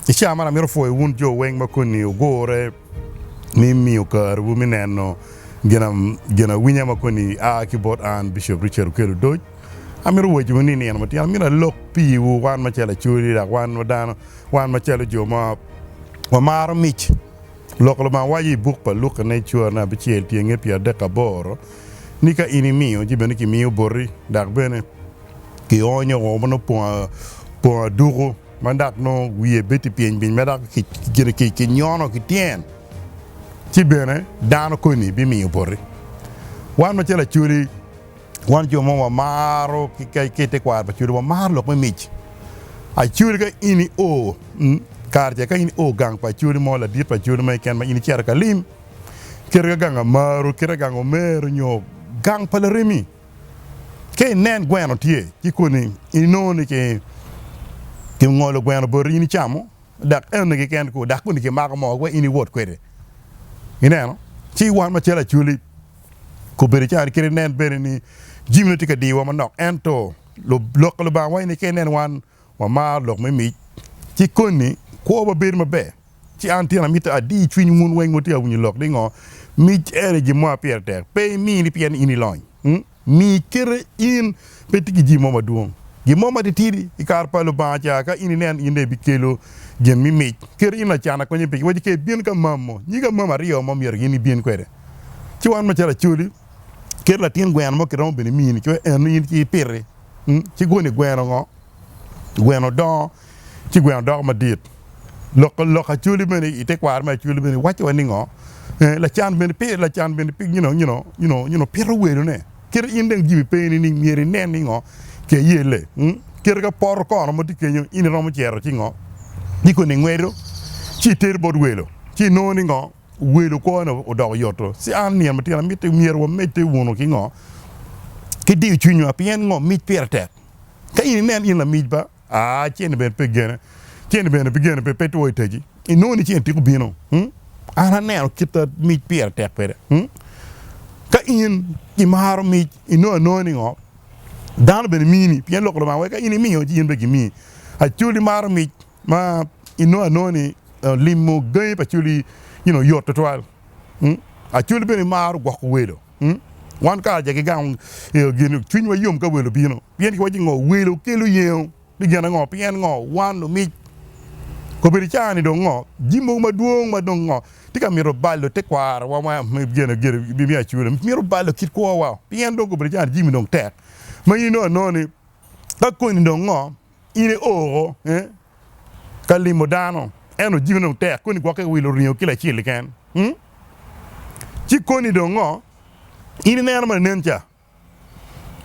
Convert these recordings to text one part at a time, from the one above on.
I caa man amito pwoyo wun jo weng ma koni ogure ni imiyo kariwu me neno ginawinya ma koni a ki bot an Bishop Richard Okello Odoc. Amito wacciwu ni i nino matino amito alok piwu wan macalo Acholi dok wan wa dano, wan macalo jo ma wamaro mic. Lok Lubanga waco i buk pa Luka nen cura ne abicel tyenge pyeradek aboro ni ka in imiyo ci bene kimiyo boti dok bene kionyo o ma nongo pong aduku. ma dok nongo wiye bedo pyeny pyeny ma dok kinyono ki tyen, ci bene dano koni bimiyo opoti. Wan macalo Acholi, wan jo mo wamaro ki i tekwaro pa Acholi wamaro lok me mic. Acholi ka in io kare ca ka in io gang pa Acholi mo ladit pa Acholi mo keken ma in icito ka lim, kite ka gang Amaru, kite ka gang Omer nyo gang pa Laremi, Ka inen gweno tye ki koni, inongo ni kingolo gweno boti in icamo, dok ene keken kwo, dok koni kimako mo wek in iwot kwede. Ineno? Ci wan macalo Acholi, kobedi ca ni kadi nen bene ni jamine tye ka diyowa manok, ento Lok pa Lubanga waco ni ka inen wan wamaro lok me mic, ci koni kwowa bedo maber. Ci an tyena mitte adi cwiny wun weng ma tye ka winyo lok ni ngo mic ene gin mo ma pire tek. Pe imini pien in ilony, mi kite in pe itye ki jami mo madwong. Gin mo matitidi i kare pa Lubanga ca ka in ineno in dong ibikelo gin me mic, kite in lacan akonye pigi. Wacci ka ibin ka mam mo, nyig amam aryo mo myero gin ibin kwede. Ci wan macalo Acholi kit latin gweno mo kiromo bene mini coc eno in ci ipiti. Ci goni gweno ngo? Gweno dongo ci gweno doko madit. Lok lok Acholi bene i te kwaro me Acholi bene wacci wa ni ngo? Eh, lacan bene pire lacan bene you know, you know, you know, you know pito welone. Kite in dong Jimmy peni ni myero inen ni ngo? Ke yelle. Mm? Kite ka poto kono ma tye kenyo in iromo cito ci ngo? Ci koni ingwedo ci iter bot welo ci inongo ni ngo? welo kwone odoko yoto. Ci an, nino matino, amitti myero wamedde wunu ki ngo? Ki diyo cwinywa, pien ngo mic pire tek? Ka in inen in lamic ba, aa, cen-ni bene pe gene, cen-ni bene pi gene pe, pe two itegi, inongo ni cen tika obino? Hum? An aneno kit ma mic pire tek kwede. Hum? Ka in imaro mic, inongo anongo ni ngo? Dano bene mini, pien Lok Lubanga weko ka in imiyo, ci in bene gimiyi. Acol imaro mic? ma inongo anongo ni limo gangi pa Acoli oyot tutwal. Acoli bene maro gwoko welo. Wan karaca ki gang cwinywa yom ka welo obino pien kiwaco ni ngo welo kelo yengo ni gin ango pien ngo wan lumic obedo icara ni dong ngo jami mogo madwong ma dong ngo tye ka mito balo tekwaro wa me Acoli mito balo kit kwowa pien dong obedo icara ni jami dong tek ma in inongo anongo ni ka koni dong ngo In i o oko ka limo dano, ento jikone dong tek, koni gwokke ki wilo ringo kilo acel keken? Ci koni dong ngo? In ineno ma nen ca,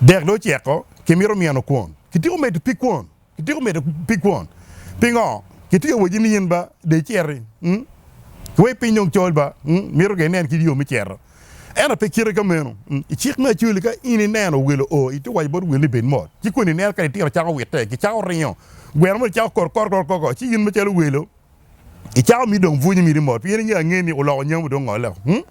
dek dong oceko, kimito mino kwon. Kityeko medo pi kwon, kityeko medo pi kwon. Pingo? Kityeko waci ni in ba de iciti, kiwek piny dong col ba, mito ka inen kit yo me cito. Ento pe kite ka meno. I cik me Acoli, ka in ineno owelo o, itye ka waco bot owelo ni, 'Bed mot. Ci koni ineno ka litino cako witte, gicako ringo, gweno moni cako kor kor kor kor, ci in macalo owelo icako miti dong bwunyo miti mot, pien ingeyo angeya ni oloko nyamu dong ngolle woko.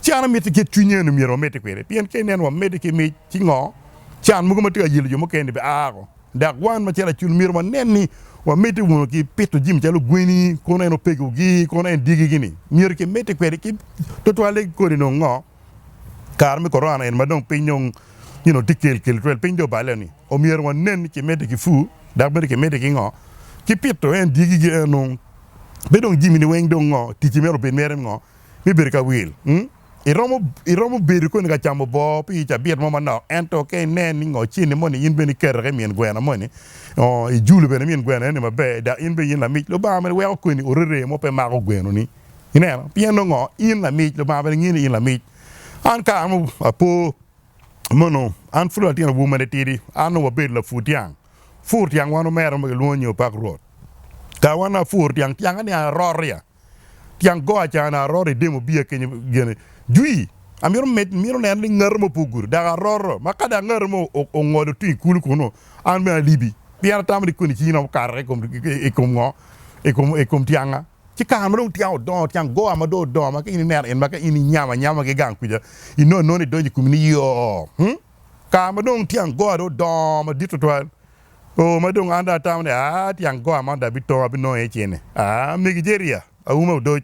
Ci an amitti kit cwinyi eno myero wamitti kwede, pien ka ineno wamitti ki mic ki ngo, can mogo ma tye ka yelo jo mukene-ni bia woko. Dok wan macalo acul myero wanen ni wamedde wunu ki pito jimi calo gweni, kono en opegogi, kono en dyegigi-ni. Myero kimedde kwede ki twatwalle kodi nongo ngo? Kare me Korona eni ma dong piny dong tye kelkel twel, piny dong oballe-ni, omyero wanen ni kimedde ki pur dok bene kimedde ki ngo? Ki pito en dyegigi eno. Pe dong jimini weng dong ngo? Ticci mere obed mere ngo? Me bedo ka wil? Iromo, iromo bedo koni ka camo boo pi cabit mo manok, ento ka inen ni ngo cen-ni moni in bene iketo ki i min gweno moni, ongo ijulo bene min gweno eno-ni maber, dok in bene in lamic Lubanga mene weko koni orere mo pe mako gwenoni. Ineno? Pien nongo ngo? In lamic, Lubanga bene ngiyo ni in lamic. An kare mo apo mono, an pud latin awobi ma nitidi, an onongo abedo lapur tyang. Pur tyang wan omera mo kilwongo ni Opak Rwot. Kare wan apur tyang, tyange ni aroria. Tyen go acane aroto i demo bia kenyo gene. Jwi, Amito med mito neno ni ngato mo pe ogudo, dok aroto ma ka dok ngato mo ongolo tung i kulu kunnu, an bene alibi. Pien atamo ni koni cingi romo kato i kom ngo? I kom tyanga. Ci kare ma dong tyanga odongo, tyen go ma dong odongo ma ka in ineno in ma ka in inyamo anyama ki gang kuca, inongo inongo ni idonyo i komi ni yoo. Kare ma dong tyen goa dong odongo madit tutwal, oo, ma dong an dong atamo ni, aa, tyen goa man dong abitong, abinongo iye cen-ni. Aa, megi Jeria, auma odoc,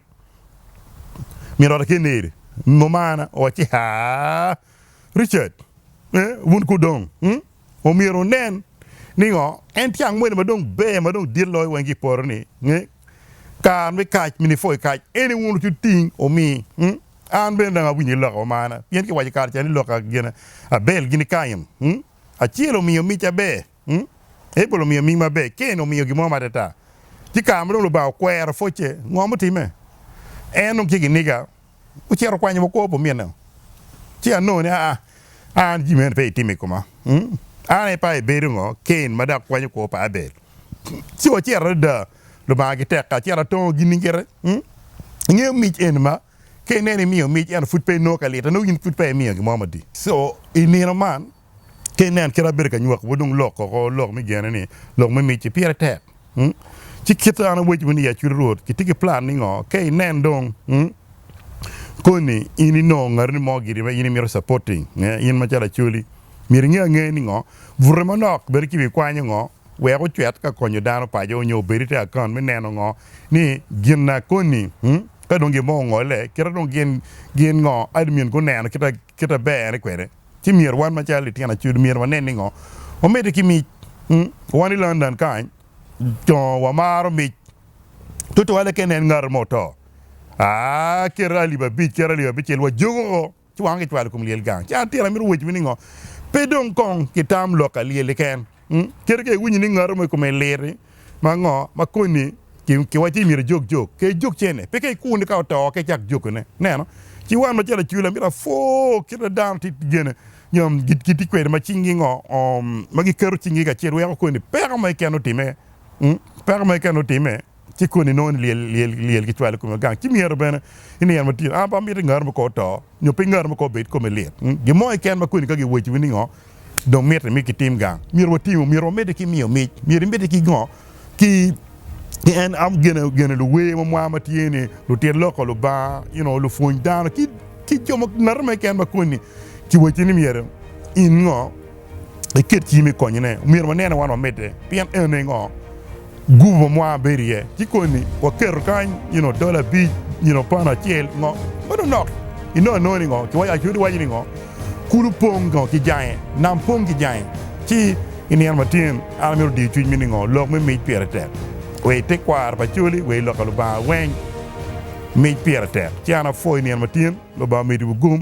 min ot Akeneri, mumana, owacci ni, aa, Richard, ee, wun ku dong, hum, omyero wunen ni ngo, en tyen moni ma dong ber ma dong dit loyo weng ki i poto-ni, ee, kare me kac, min ipwo i kac, en i wun wucuting, wumi, hum. An bene dong awinyo ni loka omana, pien kiwaco i kare ca ni loka gin Abel gini Kain. Acel omiyo mic aber, Abel omiyo ming maber, Kain omiyo gin mo ma atata. Ci kare ma dong Lubanga okwero pwocce, ngo mutimme? En dong tye ki niga, ocito okwanyo wa kwo pa ominne, ci anongo ni, aa, an jami meno pe itimo i koma. An aye pa ibedo ngo, Kain, ma dok kwanyo kwo pa Abel? Ci wacito adada. Lubanga ki tekka, ci en atongo ginni gire. Ingeyo mic eni ma ka ineno imiyo mic ento pud pe inongo ka lite, nongo in pud peya imiyo gin mo madit. Co, i nino man, ka ineno kit ma abedo ka nywaki wa dong lok koko lok me gene ni lok me mic-ci pire tek. Ci kit ma an awaco ni i acut Rwot kitye ki plan ningo? Ka inen dong koni in inongo ngatini mo giri ma in imito supporting, in macalo Acholi, myero inge angeya ningo? Bute manok bedo ki wi kwanyo ngo? Wek ocwet ka konyo dano paco nyo obed i te akaunt me neno ngo ni gin na koni ka dong gin mo ongole kita dong gin gin ngo admin guneno kita kita bere kwede. Ci myero wan macalo litino acudu myero wanen ni ngo wamedde ki mic. Wan i London kany dong wamaro mic tutwale ka inen ngato mo oto, aa kete alip abic kete alip abicel wajuko. ci wangwa kicwalo i kom lyel gang. Ci an tira amito wecciwu ni ngo? Pe dong kong kitam lok ka lyel-li ken, kadi ka iwinyo ni ngatu mo i kome lir-ri ma ngo ma koni ki wa ci myero ijog jok, ka ijog cene, peke ikuni ka oto ka icak jokone. Neno, ci wan macalo acula amito apwoo kit ma dano tye ki gene nyo gitye kwede ma cing-gi ngo ma giketo cing-gi kacel weko koni peko mo keken otimme, peko mo keken otimme. ci koni nongo ni lyel kicwalo kome gang, ci myero bene i nino matino an pe amito i ngaro mo kor oto nyo pe ngaro mo kor obed kome lit. Gin mo keken ma koni ka giwaco wi ningo dong miti mi kitim gang, myero watimo, myero wamedde ki miyo mic, myero imedde ki ngo ki en am gene gene luwer mo mwa ma tye ni lutit loko Lubanga you know lupwony dano ki ki jo mo ngati mo keken ma koni kiwaco ni myero in ngo. iket cimi i konyone. Myero wanene wan wamedde pien ene ngo gurup ma mwa bedo iye. Ci koni waketo kany you know, dola abic, you know, pound acel, ngo. Meno nok inono anona ni ngo, kiwaco Ayub iwaco ni ngo, kulu pong ngo ki jange, nam pong ki jange. Ci i nino matin an amito diyo cwiny mi ni ngo, lok me mic pire tek. Wa i tekwaro pa Acholi, wa i loka Lubanga weng, mic pire tek. Ci an apwoyo i nino matin, Lubanga omeddiwu gum.